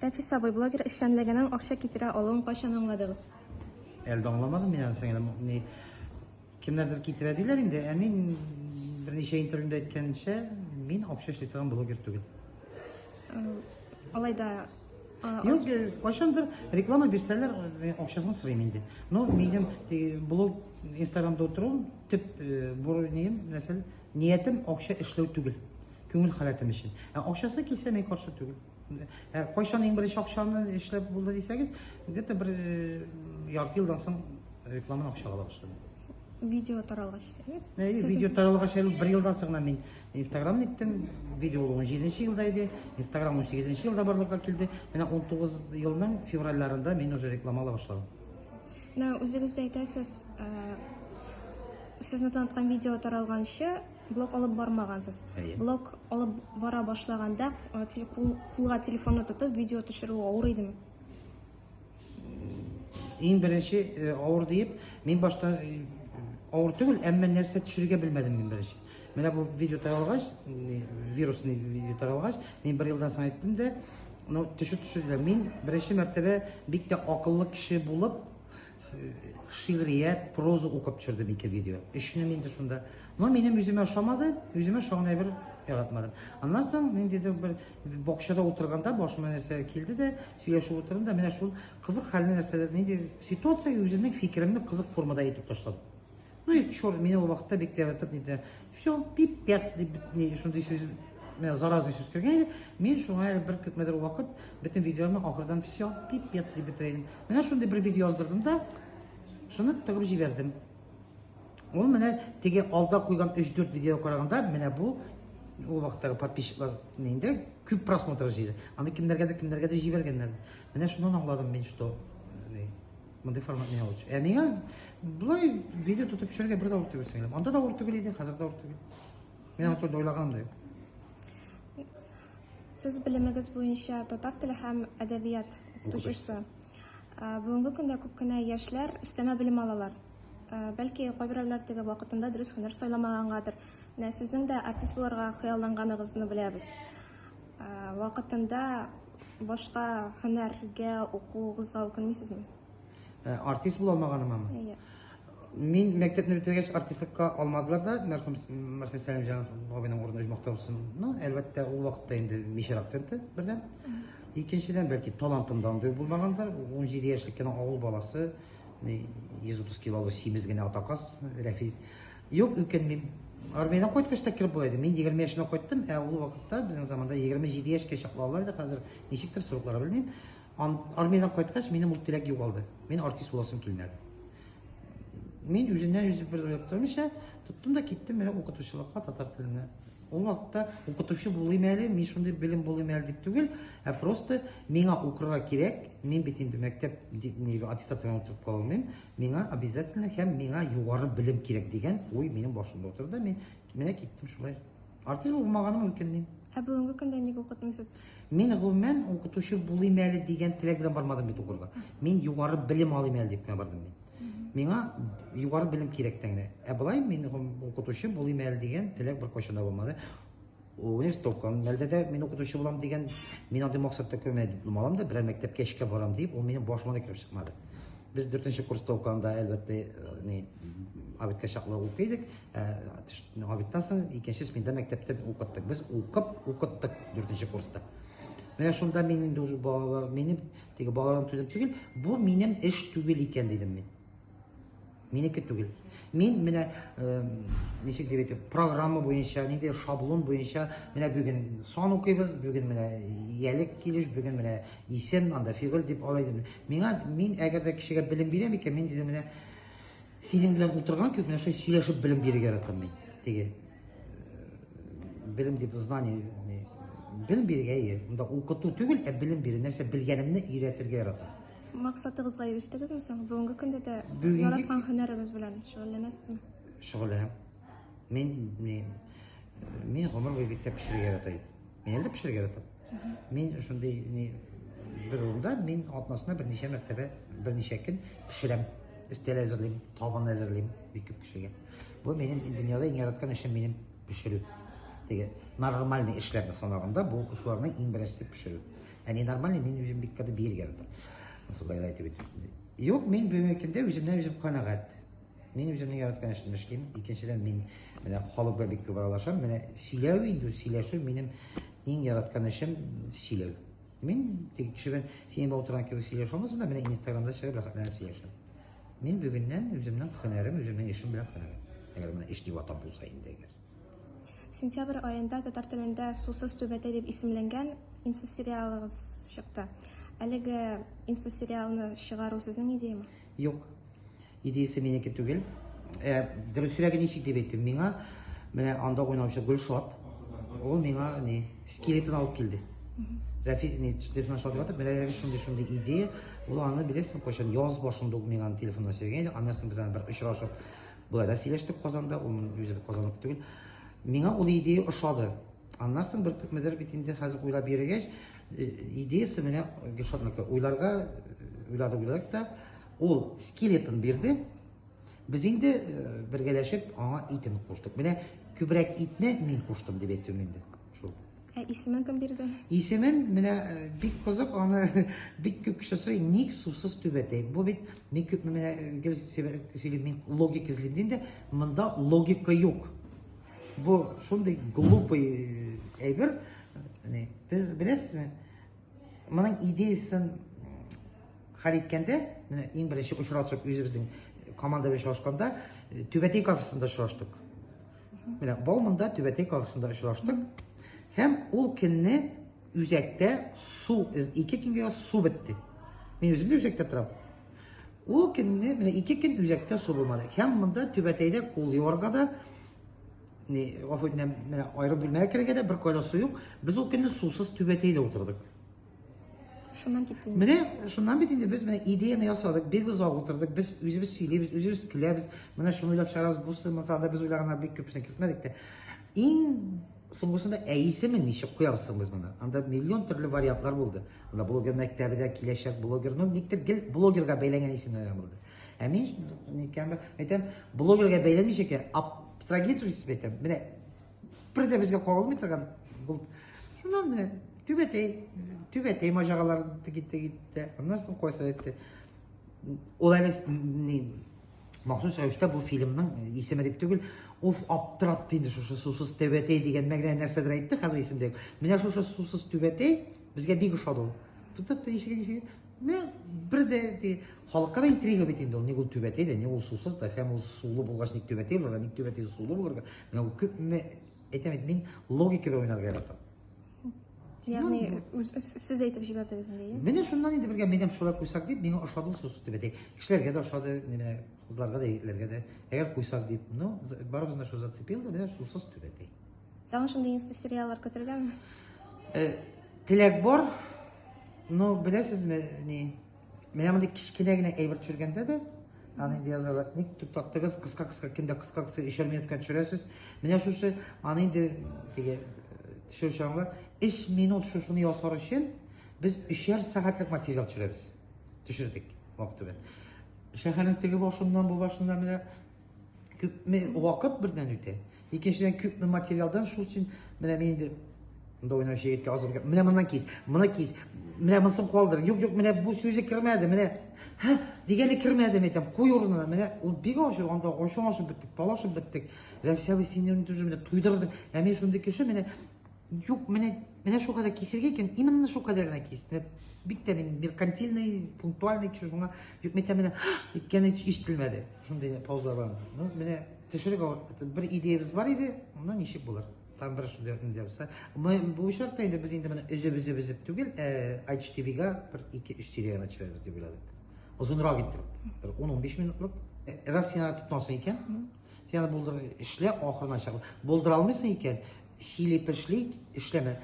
Рәфис абый, блогер эшчәнлегенең акча китерә алуын кайчан аңладыгыз? Әлдә аңламадым мин аны сеңелем. Ни кемнәрдер китерә диләр инде, ә мин берничә интервьюда әйткәнчә, мин акча эшли торган блогер түгел. Алай да Юк, э, кайчандыр реклама бирсәләр, э, акчасын сорыйм инде. Но минем э, блог Инстаграмда утыруым төп бурынем, нәрсә, ниятем акча эшләү түгел. Күңел халәтем өчен. Ә акчасы килсә, мин каршы түгел. Ә кайчан иң беренче акчаны эшләп булды дисәгез, где-то бер э, ярты елдан соң рекламаны акча ала башладым. Видео таралгач. Э, видео таралгач әле бер елдан соң гына мин Instagram иттем. Видео ул 17 елда иде, Instagram 18 елда барлыкка килде. Менә 19 елның февральләрендә мин уже реклама ала башладым. Менә үзегез дә әйтәсез, э, сезне таныткан видео таралганчы Блог алып бармагансыз. Әйе. Блог алып бара башлаганда кулга телефонны тотып видео төшерү авыр идеме? Иң беренче э, авыр диеп, мин башта э, авыр түгел, әмма нәрсә төшерергә белмәдем мин беренче. Менә бу видео таралгач, вирусный видео таралгач, мин бер елдан соң әйттем дә, ну, төшер төшерделәр. Мин беренче мәртәбә бик тә акыллы кеше булып, шигърият, проза укып төшердем ике видео. Өчне инде шунда. Но минем үземә ошамады, үземә ошагандай бер яратмадым. Аннан соң ниндидер бер бакчада утырганда башыма нәрсә килде дә, сөйләшеп утырдым да, менә шул кызык хәлне нәрсәләр, нинди ситуация үземнең фикеремне кызык формада әйтеп ташладым. Ну и черт, мені ол вақытта бек дәватып неді. Все, пипец деп не сондай сөз мә заразный сөз кергән иде. Мин шуңа бер көтмәдер вакыт бөтен видеоны ахырдан все, пипец дип бетерә идем. Менә шундый бер видео яздырдым да, шуны тыгып җибәрдем. Ул менә теге алда куйган 3-4 видео караганда, менә бу ул вакыттагы подписчиклар инде күп просмотр җыйды. Аны кемнәргә дә кемнәргә дә җибәргәннәр. Менә шуннан аңладым мин, что Мондый формат миңа лучше. Ә миңа болай видео тотып төшерергә бер дә авыр түгел сеңлем. Анда да авыр түгел иде, хәзер дә авыр түгел. Мин аны турында уйлаганым да юк. Сез белемегез буенча татар теле һәм әдәбият укытучысы. Ә, Бүгенге көндә күп кенә яшьләр өстәмә белем алалар. Ә, Бәлки кайберәүләр теге вакытында дөрес һөнәр сайламагангадыр. Менә сезнең дә артист булырга хыялланганыгызны беләбез. Вакытында башка һөнәргә укуыгызга үкенмисезме? Э, артист була алмаганыма Әйе. Мин мәктәпне бетергәч артистлыкка алмадылар да, мәрхүм Марсель Сәлимҗан абыйның урыны оҗмакта булсын. Ну, әлбәттә, ул вакытта инде мишер акценты бердән. Икенчедән, бәлки талантым да андый булмагандыр. 17 яшьлек кенә авыл баласы, 130 килолы симез генә атакас, Рәфис. Юк үкенмим. Армиядән кайткач та кереп була иде. Мин 20 яшьмә кайттым, ә ул вакытта безнең заманда 27 яшькә чаклы алалар иде, хәзер ничектер сроклары белмим. Армиядән кайткач минем ул теләк югалды. Мин артист буласым килмәде. Мин үзеннән үзе бер яктырмыйча тоттым да киттем менә укытучылыкка татар теленә. Ул вакытта укытучы булыйм әле, мин шундый белем булыйм әле дип түгел, ә просто миңа укырга кирәк, мин бит инде мәктәп аттестацияне утырып кала алмыйм. Миңа обязательно һәм миңа югары белем кирәк дигән уй минем башымда утырды. Мин менә киттем шулай. Артист булмаганым мөмкин мин. Ә бүгенге көндә ник укытмыйсыз? Мин гомумән укытучы булыйм әле дигән теләк белән бармадым бит укырга. Мин югары белем алыйм әле дип кенә бардым мин. Миңа югары белем кирәк тә генә. Ә болай мин гом- укытучы булыйм әле дигән теләк беркайчан да булмады. Уңыш тапкан мәлдә дә мин укытучы булам дигән, мин андый максатта кермәй булмалам да, берәр мәктәпкә эшкә барам дип, ул минем башыма да кереп чыкмады. Без дүртенче курста укыганда, әлбәттә, ни обедка чаклы укый идек. Обедтан соң икенче сменада мәктәптә укыттык. Без укып укыттык дүртенче курста. Менә шунда мин инде уже балалар, минем теге балаларым түгел, бу минем эш түгел икән дидем мин. Минеке түгел. Мин менә э, ничек дип әйтим, программа буенча, нинди шаблон буенча менә бүген сан укыйбыз, бүген менә иялек килеш, бүген менә исем, анда фигыль дип алай дидем. Миңа мин әгәр дә кешегә белем бирәм икән, мин дидем менә синең белән утырган кебек менә шул сөйләшеп белем бирергә яратам мин. Теге э, белем дип знание белем бирергә, монда укыту түгел, ә белем бирү, нәрсә белгәнемне өйрәтергә яратам. Максатыгызга ирештегезме соң? Бүгенге көндә дә Бүгенге- яраткан һөнәрегез белән шөгыльләнәсезме? Шөгылем. Мин, мин, мин гомер буе биктә пешерергә ярата идем. Мин әле дә пешерергә яратам. Мин шундый ни, бер урында мин атнасына берничә мәртәбә, берничә көн пешерәм. Өстәл әзерлим, табын әзерлим бик күп кешегә. Бу минем дөньяда иң яраткан эшем минем пешерү. Теге нормальный эшләрне санаганда бу шуларның иң беренчесе пешерү. Они нормальные, мин үзем бик каты биргән. Насыбай да әйтеп үтте. Юк, мин бүгенге көндә үземнән үзем канәгать. Мин үземне яраткан эшне эшлим. Икенчедән мин менә халык белән бик күп аралашам. Менә сөйләү инде сөйләшү минем иң яраткан эшем сөйләү. Мин тик кеше белән синең белән утырган кебек сөйләшәмез, менә инстаграмда чыгып рәхәтләнеп сөйләшәм. Мин бүгеннән үземнең һөнәрем, үземнең эшем белән канәгать. Әгәр менә эш дип атап булса инде әгәр. Сентябрь аенда татар телендә Сусыз түбәтәй дип исемләнгән инстасериалыгыз чыкты. Әлеге инстасериалны чыгару сезнең идеяме? Юк. Идеясе минеке түгел. Э, Дөресрәге ничек дип әйтим, миңа менә анда уйнаучы Гөлшат, ул миңа не скелетын алып килде. Рәфис не телефон шат ятып, менә Рәфис шундый шундый идея, ул аны беләсең кайчан яз башында ук миңа аны телефонда сөйләгән, аннан соң без аны бер очрашып Болай да сөйләштек Казанда, ул үзе Казанлык түгел. Миңа ул идея ошады. Аннан соң бер күпмедер бит инде хәзер уйлап йөрегәч, э, идеясы менә Гөлшатныкы уйларга э, уйлады уйлап та ул скелетын бирде. Без инде э, бергәләшеп аңа итен куштык. Менә күбрәк итне мин куштым дип әйтүем инде. Ә исемен кем бирде? Исемен менә э, бик кызык, аны бик күп кеше сорый, ник сусыз түбәтәй? Бу бит мин күпме менә э, гел сөйлим, мин логик эзлим дим дә, монда логика юк. Бу шундый глупый э, әйбер. Әни, без беләсезме? Моның идеясын хәл иткәндә, менә иң беренче очрашып үзебезнең команда белән шашканда, түбәтәй кафесында шаштык. Менә Бауманда түбәтәй кагысында очраштык. Һәм ул көнне үзәктә су, ике көнгә су бетте. Мин үзем дә үзәктә торам. Ул көнне, менә ике көн үзәктә су булмады. Һәм монда түбәтәйдә кул юарга да, не, афуйднәм, менә айрым бүлмәгә керергә дә бер койлы су юк. Без ул көнне сусыз түбәтәйдә утырдык. Шуннан китте. Менә шуннан бит инде без менә идеяны ясадык. Бик озак утырдык. Без үзебез сөйлибез, үзебез көләбез. Менә шуны уйлап чыгарабыз. Бу сымсада без уйлаганнан бик күпсен кертмәдек тә. Иң соңгысында ә исемен ничек куябыз соң без моны? Анда миллион төрле вариантлар булды. Анда блогер мәктәбе дә киләчәк блогер. Ну, никтер гел блогерга бәйләнгән исемнәр булды. Ә мин әйтәм, блогерга бәйләнмичә, абстрагируйся бетем. Менә Бер дә безгә кагылмый торган булып. Шуннан менә түбәтәй, түбәтәй маҗаралар китте китте. Аннан соң кайсы әйтте. Ул әле махсус рәвештә бу фильмның исеме дип түгел, уф, аптыратты инде шушы сусыз түбәтәй дигән мәгънә нәрсәдер әйтте, хәзер исемдә юк. Менә шушы сусыз түбәтәй безгә бик ошады ул. Туктатты ничек ничек. Менә бер дә ди, халыкка да интрига бит инде ул, ник ул түбәтәй дә, ник ул сусыз да, һәм ул сулы булгач ник түбәтәй булырга, ник түбәтәй сулы булырга. Ну, күп ме, әйтәм бит, мин логикада уйнарга яратам. Ягъни Ну, үз- үз- сез әйтеп җибәрдегез инде, иә? Менә шуннан инде бергә минем шулай куйсак дип, миңа ошады ул сүз төбәтәй. Кешеләргә дә ошады, менә кызларга да, егетләргә дә. Әгәр куйсак дип, ну, за- барыбызны шул зацепил да, менә шул сүз төбәтәй. Тагын шундый инста сериаллар көтелгәнме? Э, Теләк бар, но беләсезме, не, Менә мондый кечкенә генә әйбер төшергәндә дә, аны инде язарга, ник туктаттыгыз, кыска кыска, кемдә кыска кыска өчәр минутка төшерәсез. Менә шушы, аны инде теге төшерүче аңлар, 3 минут шушыны ясар өчен без өчәр сәгатьлек материал төшерәбез. Төшердек вакыт белән. Шәһәрнең теге башыннан бу башына менә Күпме вакыт бердән үтә. Икенчедән күпме материалдан шул өчен менә мин инде монда уйнаучы егеткә азыр менә моннан кис, моны кис, менә монысын калдыр. Юк, юк, менә бу сүзе кермәде, менә һә дигәне кермәде мен әйтәм. Куй урынына. Менә ул бик ачы, анда ачу-ачу беттек, талашып беттек. Рәфсәбе синең түзү менә туйдырдың. Ә мин шундый кеше менә Юк, менә, менә шул кадәр кисергә икән, именно шул кадәр генә кис. Бик тә мин меркантильный, пунктуальный кешегә юк, митә менә иткән ич ишетелмәде. Шундый пауза бар. Ну, менә төшерек бер идеябез бар иде, монда ничек булыр? Там бер шундый инде булса. Мы бу очракта инде без инде менә өзеп өзеп үзеп түгел, э, HTV-га бер 2-3 серия гына чыгарабыз дип уйладык. Озынрак иттереп, бер 10-15 минутлык. Э, раз сиңа тотмаса икән, сиңа булдыр эшлә ахырына чак. Булдыра алмыйсың икән, Чили пешли, эшләмә.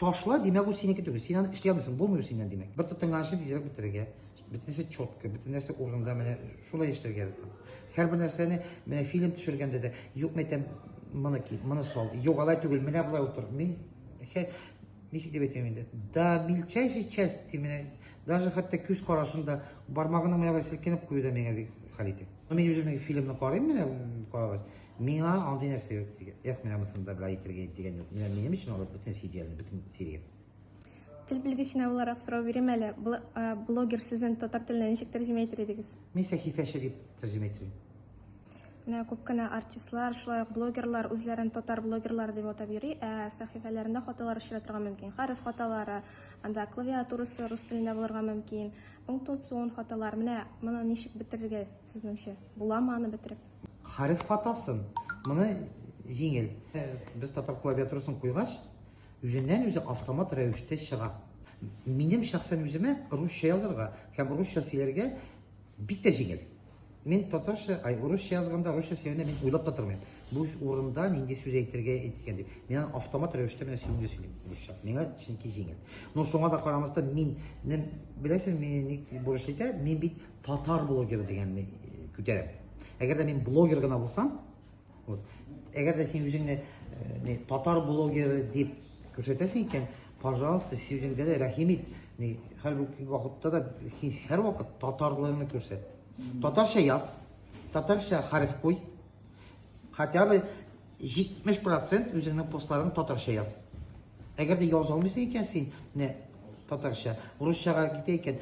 Ташла, димәк, ул синеке түгел. Син аны эшли алмыйсың, булмый ул синнән, димәк. Бер тотынган эшне тизрәк бетерергә. Бөтен нәрсә четко, бөтен нәрсә урында, менә шулай эшләргә яратам. Һәрбер нәрсәне, менә фильм төшергәндә дә, юк, мәйтәм, моны ки, моны сал. Юк, алай түгел, менә болай утыр. Мин ничек дип әйтәм инде? Да мельчайшей части, менә даже хәтта күз карашында бармагының менә селкенеп куюы да миңа бик хәл итә. Мин үземнең фильмны карыйм, менә карагач, Миңа андый нәрсә юк диген. Эх, менә монысын да бер әйтергә дигән юк. Менә минем өчен алып бөтен CD-ны, бөтен серия. Тел белгеченә буларак сорау бирим әле. Блогер сүзен татар теленә ничек тәрҗемә итер идегез? Мин сәхифәче дип тәрҗемә итәрмен. Менә күп кенә артистлар, шулай ук блогерлар үзләрен татар блогерлары дип атап йөри, ә сәхифәләрендә хаталар очрый торган мөмкин. Хәреф хаталары, анда клавиатурасы рус телендә булырга мөмкин, пунктуацион хаталар. Менә моны ничек бетерергә Сезнеңчә, буламы аны бетереп? Хәреф хатасын. Моны җиңел. Без татар клавиатурасын куйгач, үзеннән-үзе автомат рәвештә чыга. Минем шәхсән үземә русча язырга һәм русча сөйләргә бик тә җиңел. Мин татарча, ай, русча язганда, русча сөйләгәндә мин уйлап та тормыйм. Бу урында нинди сүз әйтергә әйткән дип. Мин аны автомат рәвештә менә сөйләмдә сөйлим русча. Миңа чөнки җиңел. Но шуңа да карамастан мин, беләсең, мин ник бурыч итә? Мин бит Татар блогер дигәнне күтәрәм. Әгәр дә мин блогер гына булсам, вот, әгәр дә син үзеңне э, татар блогеры дип күрсәтәсең икән, пожалуйста, син үзеңдә дә рәхим ит. Хәлбуки вакытта да һәр вакыт татарлыгыңны күрсәт. Татарча яз, татарча хәреф куй. Хотя бы 70% үзеңнең постларың татарча яз. Әгәр дә яза алмыйсың икән син, не татарча, урысчага китә икән,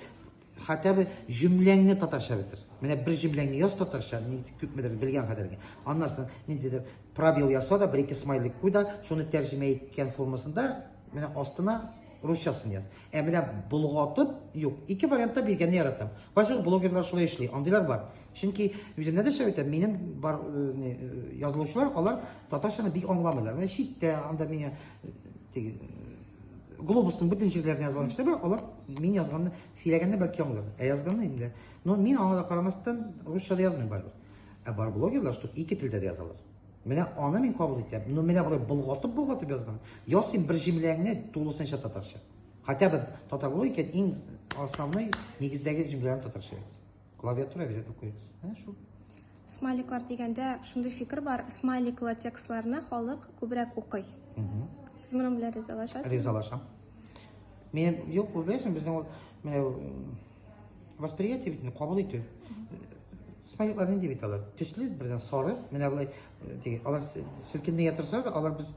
Хәтта бер җөмләңне татарча бетер. Менә бер җөмләңне яз татарча, ни күпмедер белгән кадәргә. Аннан соң ниндидер пробел яса да, бер-ике смайлик куй да, шуны тәрҗемә иткән формасында менә астына русчасын яз. Ә менә болгатып, юк. Ике вариантта биргәнне яратам. Кайсы блогерлар шулай эшли, андыйлар бар. Чөнки үземдә дә шәп итә, минем бар язылучылар, алар татарчаны бик аңламыйлар. Менә читтә, анда меня Глобусның бөтен җирләренә язган кешеләр бар, алар мин язганны сөйләгәнне бәлки аңлар. Ә язганны инде. Но мин аңа да карамастан русча да язмыйм барыбер. Ә бар блогерлар что ике телдә дә язалар. Менә аны мин кабул итәм. Но менә болай болгатып болгатып язган. Ясыйм бер җөмләңне тулысынча татарча. Хотя бы татар булу икән иң основной нигездәге җөмләләрне татарча яз. Клавиатура обязательно куегыз. Ә, шул. Смайликлар дигәндә шундый фикер бар, смайликлы текстларны халык күбрәк укый. Сез моның белән ризалашасызмы? Ризалашам. Мен юк, беләсең, безнең менә восприятие бит, кабул итү. Смайликлар нинди бит алар? Төсле, бердән сары, менә болай диге, алар селкенмәгә торса, алар без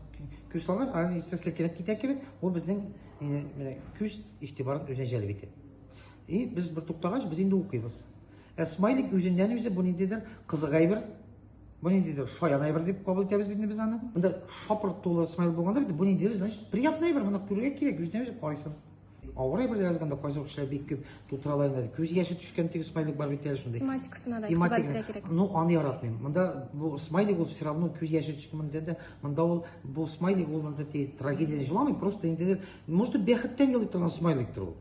күз салмас, алар исә селкенеп китә кебек, ул безнең менә күз игътибарын үзенә җәлеп итә. И без бер туктагач, без инде укыйбыз. Ә смайлик үзеннән үзе бу ниндидер кызык әйбер, бу ниндидер шаян әйбер дип кабул итәбез бит без аны. Монда шапыр тулы смайл булганда бит бу ниндидер, значит, приятный әйбер, моны күрергә кирәк, үзенә үзе карыйсың. Авыр әйбер язганда кайсы кешеләр бик күп тутыралар инде. Күз яше төшкән теге смайлик бар бит әле шундый. Тематикасына да тематика кирәк. Ну, аны яратмыйм. Монда бу смайлик ул все равно күз яше төшкән монда да. Монда ул бу смайлик ул монда трагедия җыламый, просто инде может бәхеттән елый торган смайликтер ул.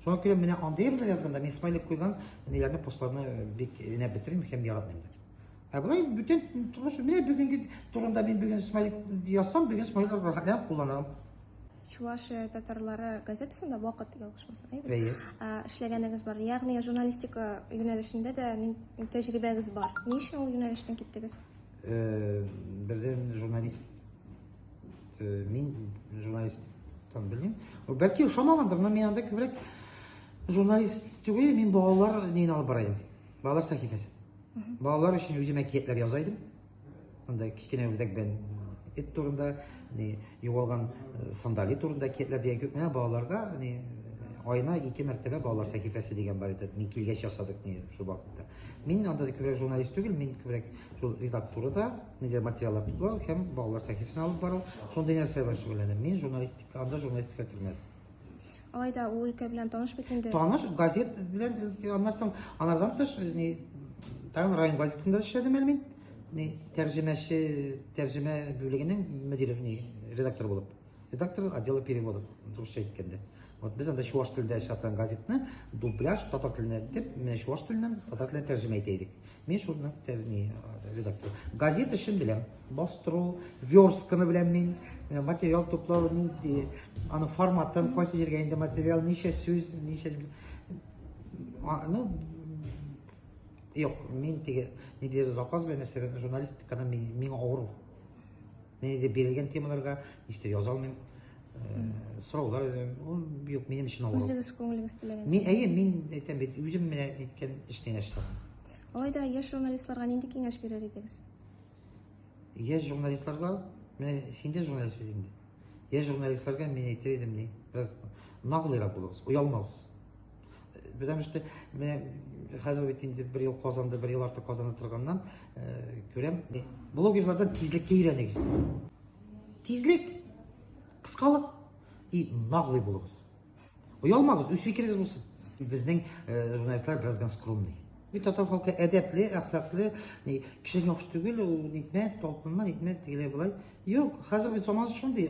Шуңа күрә менә андый әйберләр язганда мин смайлик куйган ниләрне постларны э, бик инә бетерим һәм яратмыйм да. Ә болай бүтән тормыш менә бүгенге турында мин бүген смайлик язсам, бүген смайликлар рәхәтләнеп кулланам. Чувашия татарлары газетасында вакыт ялгышмасам, әйе. Әйе. Ә, Эшләгәнегез бар. Ягъни журналистика юнәлешендә дә нин- тәҗрибәгез бар. Ни өчен ул юнәлештән киттегез? Э, Бердән журналист Э, мин журналист там белмим бәлки ошамагандыр но мен анда күбрәк журналист түгел мин балалар нигезен алып бара идем балалар сәхифәсе балалар өчен үзем әкиятләр яза идем анда кечкенә үрдәк белән эт турында югалган э, сандали турында әкиятләр дигән күп менә балаларга э, айына ике мәртәбә балалар сәхифәсе дигән бар иде мин килгәч ясадык шул вакытта мин анда күбрәк журналист түгел мин күбрәк шул редактурада Медиа материаллар туплау һәм балалар сәхифәсен алып бару, шундый нәрсә белән шөгыльләнәм. Мин журналистика, анда журналистика кермәде. Алай да ул өлкә белән таныш бит инде. Таныш газет белән аннан соң анардан тыш ни тагын район газетасында эшләдем әле мин. Ни тәрҗемәче, тәрҗемә бүлегенең мөдире, ни редактор булып. Редактор отдела переводов, русча әйткәндә. Вот без анда чуваш телендә эшләткән газетны дубляж татар теленә дип, менә чуваш теленнән татар теленә тәрҗемә итә идек. Мин шуны тәзни редактор. Газет эшен беләм. Бастыру, верстканы беләм мин. Э, материал туплау, нинди, аның форматын, кайсы җиргә инде материал, ничә сүз, ничә... Ну, юк, мин теге, нидер заказ белән нәрсә, журналистиканы мин, миңа авыру. Менә инде бирелгән темаларга ничектер яза алмыйм. Э, сораулар язам. Ул юк, минем өчен авыр. Үзегез күңелегез теләгән. Мин әйе, мин әйтәм бит, үзем менә әйткән эштән яшьтән. Алай да яшь журналистларга нинди киңәш бирер идегез? Яшь журналистларга, менә син дә журналист бит инде. Яшь журналистларга мин әйтер идем ни, бераз наглыйрак булыгыз, оялмагыз. Потому что мен хәзер бит инде бер ел Казанда, бер ел артык Казанда торганнан э, күрәм. Блогерлардан тизлеккә өйрәнегез. Тизлек, кыскалык и наглый булыгыз. Оялмагыз, үз фикерегез булсын. Безнең э, журналистлар бераздан скромный. Бит татар халкы әдәпле, әхлаклы, кеше яхшы түгел, нитмә, талпынма, нитмә, тигеләй булай. Юк, хәзер бит заман шундый.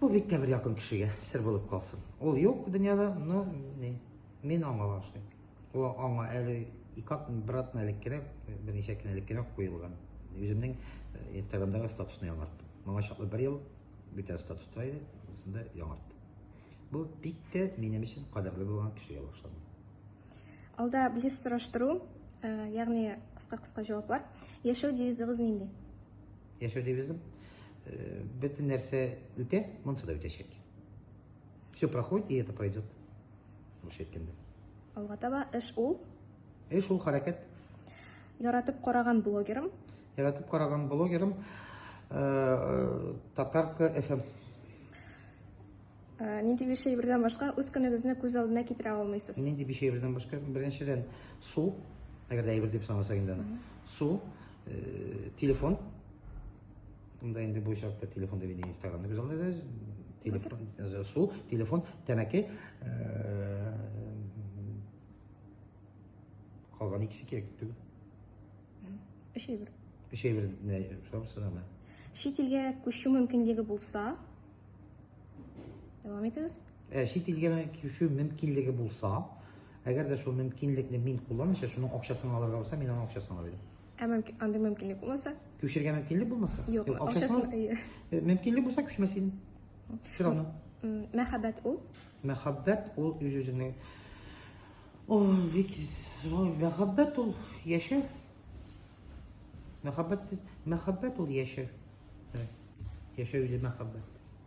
Бу бик тә бер якын кешегә сер булып калсын. Ул юк дөньяда, но мин аңа багышлыйм. Ул аңа әле ике атна, бер атна элек кенә, берничә көн элек кенә куелган. Үземнең э, Инстаграмдагы статусны яңарттым. Моңа чаклы бер ел бүтән статуста иде, шунда яңарттым. Бу бик тә минем өчен кадерле булган кешегә багышланган. Алда близ сораштыру, э, ягъни кыска-кыска җаваплар. Яшәү девизыгыз нинди? Яшәү девизым, э, бөтен нәрсә үтә, монсы да үтәчәк. Все проходит, и это пройдет. Русча әйткәндә. Алга таба эш ул. Эш ул хәрәкәт. Яратып караган блогерым. Яратып караган блогерым э, э, татарка FM. Нинди биш әйбердән башка үз көнегезне күз алдына китерә алмыйсыз? Нинди биш әйбердән башка? Беренчедән, су, әгәр дә әйбер дип санасак инде аны. Су, э, телефон. Бунда инде бу очракта телефон дип инде Инстаграмны күз алдына китерәбез. Телефон, э, су, телефон, тәмәке. э, Калган икесе кирәк дип түгел. Өч әйбер. Биш әйбер дип менә сорап сорама. Чит илгә күчү мөмкинлеге булса, Дәвам итегез. Ә чит илгә китү мөмкинлеге булса, әгәр дә шул мөмкинлекне мин кулланмыйча, шуның акчасын алырга булса, мин аның акчасын алыр идем. Ә мөмкин, андый мөмкинлек булмаса? Күчергә мөмкинлек булмаса? Юк, акчасын, әйе. Э, мөмкинлек булса күчмәс идем. Все равно. Мәхәббәт ул? Мәхәббәт ул үз-үзеңне. Ой, бик, мәхәббәт ул яшәү. Мәхәббәтсез мәхәббәт ул яшәү. Яшәү үзе мәхәббәт.